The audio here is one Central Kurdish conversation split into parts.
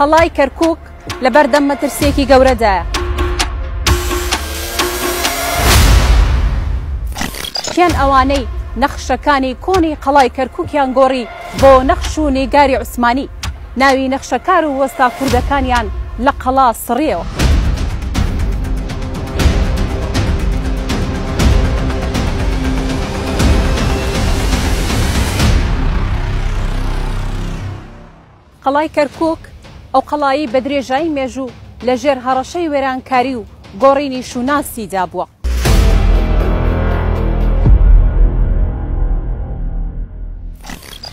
قەڵای کەرکووک لە بەردەم مەترسییەکی گەورەدایە. کێن ئەوانەی نەخشەکانی کۆنی قەڵای کەرکووکیان گۆڕی بۆ نەخش و نیگاری عوسمانی؟ ناوی نەخشەکار و وەستا کوردەکانیان لە قەڵا سڕییەوە. قەڵای کەرکووک، ئەو قەڵایەی بە درێژایی مێژوو لە ژێر هەڕەشەی وێرانکاری و گۆڕینی شووناسیدا بووە،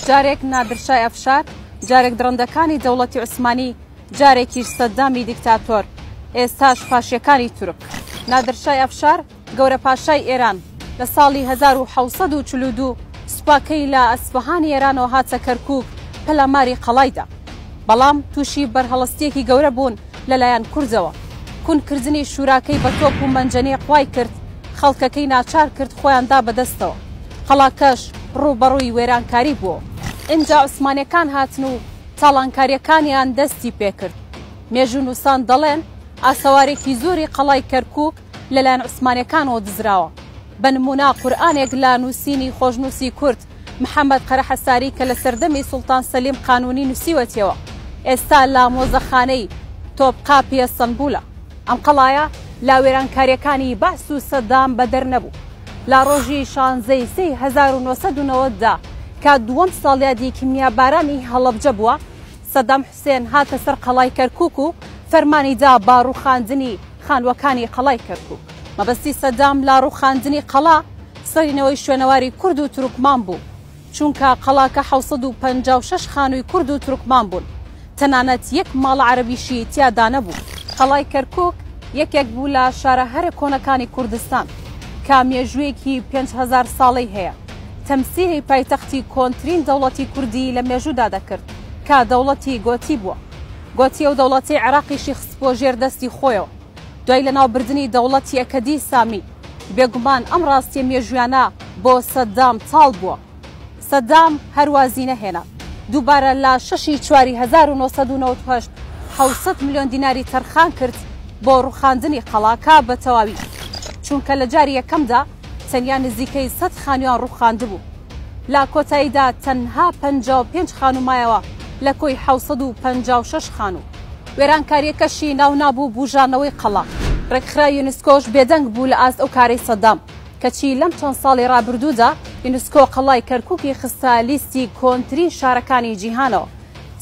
جارێک نادر شای ئەفشار، جارێک دڕندەکانی دەوڵەتی عوسمانی، جارێکیش سەددامی دیکتاتۆر، ئێستاش فاشییەکانی تورک. نادر شای ئەفشار، گەورەپاشای ئێران لە ساڵی هەزار و حەوت سەد و چل و دوو سوپاکەی لە ئەسفەهانی ئێرانەوە هاتە کەرکووک پەلاماری قەڵای دا. بەڵام تووشی بەرهەڵستییەکی گەورە بوون لە لایەن کوردەوە. کون کردنی شوراکەی بە تۆپ و مەنجەنیق وای کرد خەڵکەکەی ناچار کرد خۆیان دا بە دەستەوە. قەڵاکەش ڕووبەڕووی وێرانکاری بووە. ئینجا عوسمانییەکان هاتن و تاڵانکارییەکانیان دەستی پێ کرد. مێژوونووسان دەڵێن ئاسەوارێکی زۆری قەڵای کەرکووک لەلایەن عوسمانیەکانەوە دزراوە بە نمونە قورئانێک لە نوسینی خۆشنوسی کورد محمد قەرەحەساری کە لە سەردەمی سوڵتان سەلیم قانونی نوسیوەتیەوە ئێستا لە مۆزەخانەی تۆبقاپی ئەستەنبولە ئەم قەڵایە لە وێرانکاریەکانی بەعس و سەدام بەدەر نەبوو لە ڕۆژی شانزەی سێی هەزار و نۆ سەد و نەوەد دا کە دووەم ساڵیادی کیمیابارانی هەڵەبجە بووە سەدام حسێن هاتە سەر قەڵای کەرکوک و فەرمانی دا با ڕوخاندنی خانوەکانی قەڵای کەرکوک. مەبەستی سەدام لە ڕوخاندنی قەڵا سڕینەوەی شوێنەواری کورد و تورکمان بوو، چونکە قەڵاکە حەوت سەد و پەنجا و شەش خانوی کورد و تورکمان بوون، تەنانەت یەک ماڵ عەرەبیشی تیادانەبوو. قەڵای کەرکوک یەکێک بوو لە شارە هەرە کۆنەکانی کوردستان، کە مێژوویەکی پێنج هەزار ساڵەی هەیە، تەمسیلی پایتەختی کۆنترین دەوڵەتی کوردی لە مێژوودا دەکرد. کە دەوڵەتی گۆتی بووە. گۆتی ئەو دەوڵەتەی عێراقیشی خستبووە ژێر دەستی خۆیەوە. دوای لەناوبردنی دەوڵەتی ئەکەدی سامی، بێگومان ئەم ڕاستییە مێژوویانە بۆ سەدام تاڵ بووە. سەدام هەر وازی نەهێنا. دووبارە لە شەش ی چواری هەزار و نۆ سەد و نەوەد و هەشت حەوت سەد ملیۆن دیناری تەرخان کرد بۆ ڕووخاندنی قەڵاکە بە تەواوی، چونکە لە جاری یەکەمدا تەنیا نزیکەی سەد خانوویان ڕووخاندبوو. لە کۆتاییدا تەنها پەنجا و پێنج خانوو مایەوە لە کۆی حەوت سەد و پەنجا و شەش خانوو. وێرانکارییەکەشی ناو نابوو بووژانەوەی قەڵا. ڕێکخراوی یونسکۆش بێدەنگ بوو لە ئاست ئەو کارەی سەدام، کەچی لەم چەند ساڵی ڕابردوودا یونسکۆ قەڵای کەرکووکی خستە لیستی کۆنترین شارەکانی جیهانەوە.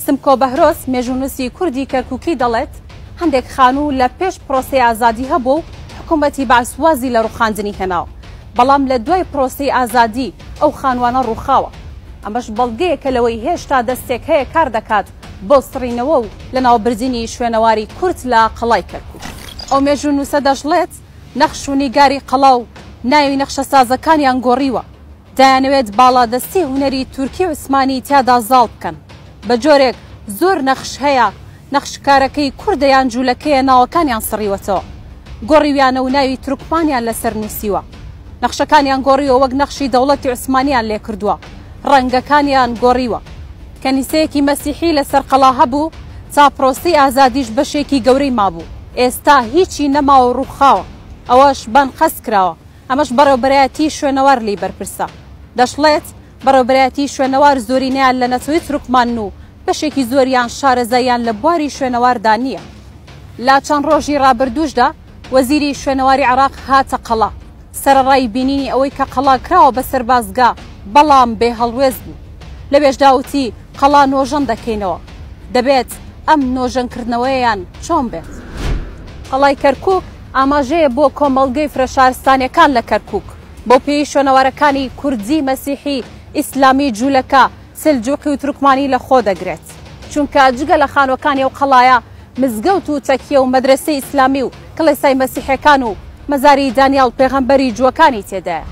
سمکۆ بەهرۆز، مێژوونووسی کوردی کەرکووکی دەڵێت، هەندێک خانوو لە پێش پرۆسەی ئازادی هەبوو و حکوومەتی بەعس وازی لە ڕووخاندنی هێناوە، بەڵام لە دوای پرۆسەی ئازادی ئەو خانووانە ڕووخاوە. ئەمەش بەڵگەیەکە لەوەی هێشتا دەستێک هەیە کار دەکات بۆ سڕینەوە و لەناوبردنی شوێنەواری کورد لە قەڵای کەرکووک. ئەو مێژوونووسە دەشڵێت، نەخش و نیگاری قەڵا و ناوی نەخشەسازەکانیان گۆڕیوە. دەیانەوێت باڵادەستی هونەری تورکی عوسمانی تیادا زاڵ بکەن، بە جۆرێک زۆر نەخش هەیە نەخشکارەکەی کوردە یان جوولەکەیە ناوەکانیان سڕیوەتەوە گۆڕیویانە و ناوی تورکمانیان لەسەر نووسیوە نەخشەکانیان گۆڕیوە وەک نەخشی دەوڵەتی عوسمانیان لێکردووە ڕەنگەکانیان گۆڕیوە کەنیسەیەکی مەسیحی لەسەر قەڵا هەبوو تا پرۆسەی ئازادیش بەشێکی گەورەی مابوو ئێستا هیچی نەماوە ڕووخاوە ئەوەش بانقەست کراوە ئەمەش بەڕێوبەرایەتی شوێنەوار لێی بەرپرسە. دەشڵێت، بەڕێوبەرایەتی شوێنەوار زۆرینەیان لە نەتەوەی تورکمانن و بەشێکی زۆریان شارەزاییان لە بواری شوێنەواردا نییە. لە چەند ڕۆژی ڕابردووشدا وەزیری شوێنەواری عێراق هاتە قەڵا سەرەڕای بینینی ئەوەی کە قەڵا کراوە بە سەربازگە، بەڵام بێ هەڵوێست بوو. لەوێشدا وتی، قەڵا نۆژەن دەکەینەوە. دەبێت ئەم نۆژەنکردنەوەیەیان چۆن بێت؟ قەڵای کەرکووک ئاماژەیە بۆ کۆمەڵگەی فرە شارستانیەکان لە کەرکوک، بەو پێیەی شوێنەوارەکانی کوردی، مەسیحی، ئیسلامی، جولەکە، سلجوقی و تورکمانی لە خۆ دەگرێت. چونکە جگە لە خانوەکانی ئەو قەڵایە مزگەوت و تەکیە و مەدرەسەی ئیسلامی و کڵێسای مەسیحەکان و مەزاری دانیاڵ پێغەمبەری جوەکانی تێدایە.